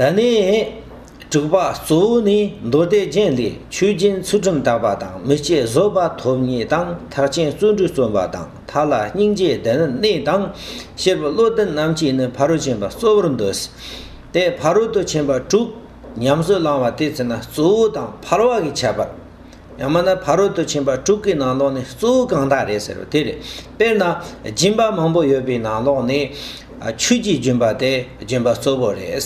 ད་ནི། དྲུག་པ་གཙོ་བོ་ནི་མདོ་སྡེ་རྒྱན་ལས་ཆོས་རྒྱན་ཚུལ་ཁྲིམས་དག་པ་དང་མི་སྐྱེ་བཟོད་པ་ཐོབ་ངེས་དང་ཐག་ཆེན་བརྩོན་འགྲུས་བརྩོན་པ་དང་ཐར་ལ་སྙིང་རྗེའི་བདེ་གནས་དང་ཤེར་བུ་བློ་ལྡན་རྣམས་ཀྱིས་ནི་ཕ་རོལ་ཕྱིན་པ་གཙོ་བོར་འདོད། དེས་ཕ་རོལ་ཏུ་ཕྱིན་པ་དྲུག་ཉམས་སུ་བླང་བ་དེ་ཚེ་ན་གཙོ་བོ་དང་འཕར་བ་གིས་ཁྱབ་པར། ཡང་མིན་ན་ཕ་རོལ་ཏུ་ཕྱིན་པ་དྲུག་གི་ནང་ལོགས་ནི་གཙོ་བོ་གང་དག་རེད་ཟེར་རོ་དེ་རེད། དཔེར་ན། སྦྱིན་པ་མང་པོ་ཡོད་པའི་ནང་ལོགས་ནི། ཆོས་ཀྱི་སྦྱིན་པ་དེ་སྦྱིན་པ་གཙོ་བོ་རེད།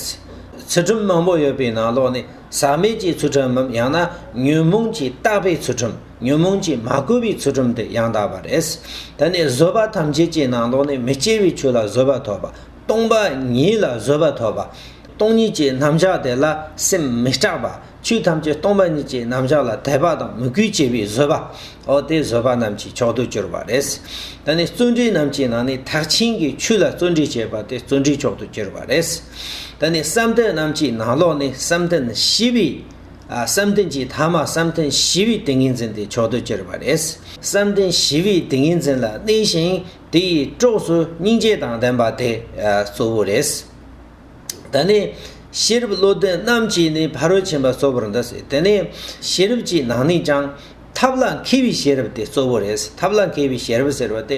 ཚུལ་ཁྲིམས་མང་པོ་ཡོད་པའི་ནང་ལོགས་ནི་ཟག་མེད་ཀྱི་ཚུལ་ཁྲིམས་མམ་ཡང་ན་ཉོན་མོངས་ཀྱིས་བརྟགས་པའི་ཚུལ་ཁྲིམས་ཉོན་མོངས་ཀྱིས་མ་གོས་པའི་ཚུལ་ཁྲིམས་དེ་ཡང་དག་པ་རེད། ད་ནི་བཟོད་པ་ཐམས་ཅད་ཀྱི་ནང་ལོགས་ནི་མི་སྐྱེ་བའི་ཆོས་ལ་བཟོད་པ་ཐོབ་པ། སྟོང་པ་ཉིད་ལ་བཟོད་པ་ཐོབ་པ། སྟོང་ཉིད་ཀྱི་རྣམ་གཞག་དེ་ལ་སེམས་མི་སྐྲག་པ། ཆོས་ཐམས་ཅད་སྟོང་པ་ཉིད་ཀྱི་རྣམ་གཞག་ལ་དད་པ་དང་མོས་གུས་བྱེད་པའི་བཟོད་པ། ཨོ་དེ་བཟོད་པ་རྣམས་ཀྱི་མཆོག་ཏུ་གྱུར་པ་རེད། ད་ནི་བརྩོན་འགྲུས་རྣམས་ཀྱི་ནང་ནས་ཐག་ཆེན་གྱི་ཆོས་ལ་བརྩོན་འགྲུས་བྱེད་པ་དེ་བརྩོན་འགྲུས་མཆོག་ཏུ་གྱུར་པ་རེད། ད་ནི་བསམ་གཏན་རྣམས་ཀྱི་ནང་ལོགས་ནས་བསམ་གཏན་བཞི་པའི། བསམ་གཏན་གྱི་མཐའ་མ་བསམ་གཏན་བཞི་པའི་ཏིང་ངེ་འཛིན་དེ་མཆོག་ཏུ་གྱུར་པ་རེད། བསམ་གཏན་བཞི་པའི་ཏིང་ངེ་འཛིན་ལ་གནས་ཤིང་དེ་ཡི་གྲོགས་སུ་སྙིང་རྗེ་དང་ལྡན་པ་དེ་གཙོ་བོ་རེད། དེ་ནས་ཤེས་རབ་བློ་ལྡན་རྣམས་ཀྱིས་ནི་ཕ་རོལ་ཕྱིན་པ་གཙོ་བོར་འདི་སྲིད་དེ་ནས་ཤེས་རབ་ཀྱི་ནང་ནས་ཀྱང། ཐབས་ལ་མཁས་པའི་ཤེས་རབ་དེ་གཙོ་བོ་རེད་ཐབས་ལ་མཁས་པའི་ཤེས་རབ་ཟེར་བ་དེ།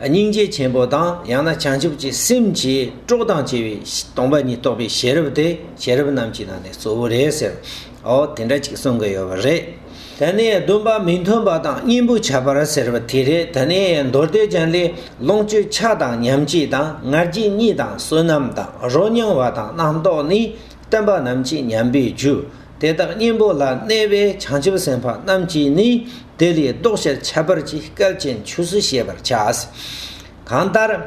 སྙིང་རྗེ་ཆེན་པོ་དང་ཡང་ན་བྱང་ཆུབ་ཀྱི་སེམས་ཀྱིས་དཀྲོགས་དང་བཅས་པའི་སྟོང་པ་ཉིད་རྟོགས་པའི་ཤེས་རབ་དེ་ཤེས་རབ་རྣམས་ཀྱི་ནང་ནས་གཙོ་བོ་རེད་ཟེར། འོ་དེ་འདྲ་ཅིག་གསུང་གི་ཡོད་པ་རེད། ད་ནས་སྡོམ་པ་མི་མཐུན་པ་དང་གཉེན་པོ་བྱ་བར་ཟེར་བ་དེ་རེད་ད་ནས་མདོ་སྡེ་ཅན་ལས་ལོངས་སྤྱོད་ཆགས་དང་ཉམས་སྐྱེས་དང་ངར་སྐྱེས་གཉིས་དང་བསོད་ནམས་དང་རོ་མྱང་བ་དང་རྣམ་རྟོག་ནི་བསྟན་པ་རྣམས་ཀྱི་ཉམས་པའི་རྒྱུ་དེ་དག་གཉེན་པོ་ལ་གནས་པའི་བྱང་ཆུབ་སེམས་དཔའ་རྣམས་ཀྱིས་ནི་དེ་ལས་བཟློག་བྱར་ཁྱད་པར་གྱི་སྐལ་ཅན་ཆོས་སུ་ཤེས་པར་བྱ། གང་ལྟར།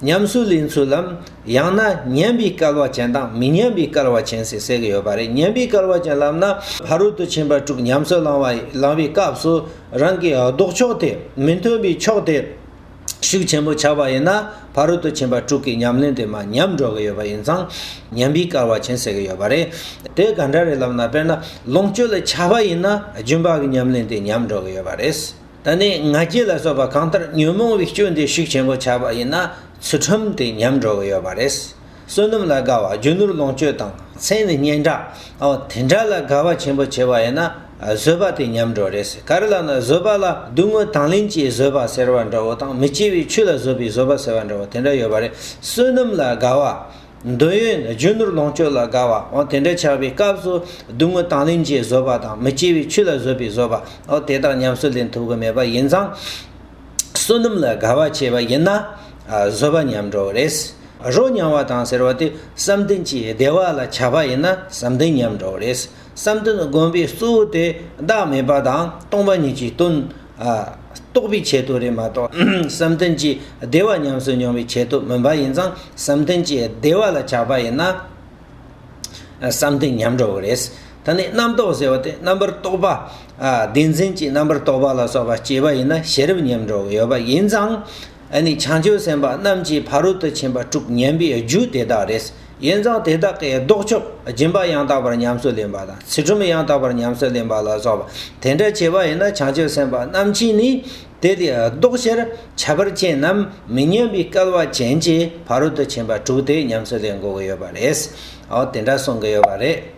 ཉམས་སུ་ལེན་ཚུལ་ལམ། ཡང་ན་ཉན་པའི་སྐལ་བ་ཅན་དང་མི་ཉན་པའི་སྐལ་བ་ཅན་ཟེར་གསལ་གྱི་ཡོད་པ་རེད་ཉན་པའི་སྐལ་བ་ཅན་ལབ་ན་ཕ་རོལ་ཏུ་ཕྱིན་པ་དྲུག་ཉམས་སུ་བླང་བའི་སྐབས་སུ་རང་གི་ལྡོག་ཕྱོགས་དེ་མི་མཐུན་པའི་ཕྱོགས་དེ་ཤུགས་ཆེན་པོ་ཆགས་པ་ཡིན་ན་ཕ་རོལ་ཏུ་ཕྱིན་པ་དྲུག་གི་ཉམས་ལེན་དེ་མ་ཉམས་འགྲོ་གི་ཡོད་པ་ཡིན་ཙང་ཉན་པའི་སྐལ་བ་ཅན་ཟེར་གྱི་ཡོད་པ་རེད། དེ་ག་འདྲ་རེད་ལབ་ན་དཔེར་ན་ལོངས་སྤྱོད་ལ་ཆགས་པ་ཡིན་ན་རྒྱུན་པ་གི་ཉམས་ལེན་དེ་ཉམས་འགྲོ་གི་ཡོད་པ་རེད། ད་ནི་ང་རྒྱལ་ལ་སོགས་པ་གང་ལྟར་ཉོན་མོངས་པའི་སྐྱོན་དེ་ཤུགས་ཆེན་པོ་ཆགས་པ་ཡིན་ན་ཚུལ་ཁྲིམས་དེ་ཉམས་འགྲོ་གི་ཡོད་པ་རེད། བསོད་ནམས་ལ་དགའ་བ་རྒྱུ་ནོར་ལོངས་སྤྱོད་དང་མཚན་ནི་སྙན་གྲགས་དེ་འདྲ་ལ་དགའ་བ་ཆེན་པོ་བྱེད་པ་ཡིན་ན་བཟོད་པ་དེ་ཉམས་འགྲོ་རེད། གར་ལ་ན་བཟོད་པ་ལ་སྡུག་བསྔལ་དང་ལེན་གྱིས་བཟོད་པ་ཟེར་བ་འདྲ་བོ་དང་མི་སྐྱེ་བའི་ཆོས་ལ་བཟོད་པའི་བཟོད་པ་ཟེར་བ་འདྲ་བོ་དེ་འདྲ་ཡོད་པ་རེད། བསོད་ནམས་ལ་དགའ་བ་འདོད་ཡོན་རྒྱུ་ནོར་ལོངས་སྤྱོད་ལ་དགའ་བ། དེ་འདྲ་ཆགས་པའི་སྐབས་སུ་སྡུག་བསྔལ་དང་ལེན་བྱེད་བཟོད་པ་དང་མི་སྐྱེ་བའི་ཆོས་ལ་བཟོད་པའི་བཟོད་པ། དེ་དག་ཉམས་སུ་ལེན་ཐུབ་ཀྱི་མེད་པ་ཡིན་ཙང། བསོད་ནམས་ལ་དགའ་བ་བྱས་པ་ཡིན་ན། བཟོད་པ་ཉམས་འགྲོ་བ་རེད། རོ་མྱང་བ་དང་ཟེར་བ་དེ་བསམ་གཏན་གྱི་བདེ་བ་ལ་ཆགས་པ་ཡིན་ན་བསམ་གཏན་ཉམས་འགྲོ་བ་རེད། བསམ་གཏན་བསྒོམ་པའི་གཙོ་བོ་དེ་བདག་མེད་པ་དང་སྟོང་པ་ཉིད་ཀྱི་དོན། རྟོགས་པའི་ཆེད་དུ་རེད་མ་གཏོགས་བསམ་གཏན་གྱི་བདེ་བ་ཉམས་སུ་མྱོང་བའི་ཆེད་དུ་མིན་པ་ཡིན་ཙང་བསམ་གཏན་གྱི་བདེ་བ་ལ་ཆགས་པ་ཡིན་ན་བསམ་གཏན་ཉམས་འགྲོ་བ་རེད། ད་ནི་རྣམ་རྟོག་ཟེར་བ་དེ་རྣམ་པར་རྟོག་པ། བདེན་འཛིན་གྱི་རྣམ་པར་རྟོག་པ་ལ་སོགས་པ་སྐྱེས་པ་ཡིན་ན་ཤེས་རབ་ཉམས་འགྲོ་གི་ཡོད་པ་ཡིན་ཙང་ཨ་ནི་བྱང་ཆུབ་སེམས་དཔའ་རྣམས་ཀྱི་ཕ་རོལ་ཏུ་ཕྱིན་པ་དྲུག་བསྙེན་པའི་རྒྱུ་དེ་དག་རེད། ཡིན་ཙང་དེ་དག་གི་ལྡོག་ཕྱོགས་སྦྱིན་པ་ཡང་དག་པར་ཉམས་སུ་ལེན་པ་དང་ཚུལ་ཁྲིམས་ཡང་དག་པར་ཉམས་སུ་ལེན་པ་ལ་སོགས་པ་དེ་འདྲ་བྱེད་པ་ཡིན་ན་བྱང་ཆུབ་སེམས་དཔའ་རྣམས་ཀྱིས་ནི་དེ་དེའི་ལྡོག་ཕྱིར་བྱ་བར་ཅན་ནམ་མི་ཉམས་པའི་སྐལ་བ་ཅན་གྱི་ཕ་རོལ་ཏུ་ཕྱིན་པ་དྲུག་དེ་ཉམས་སུ་ལེན་དགོས་ཀྱི་ཡོད་པ་རེད། འོ་དེ་འདྲ་གསུང་གི་ཡོད་པ་རེད།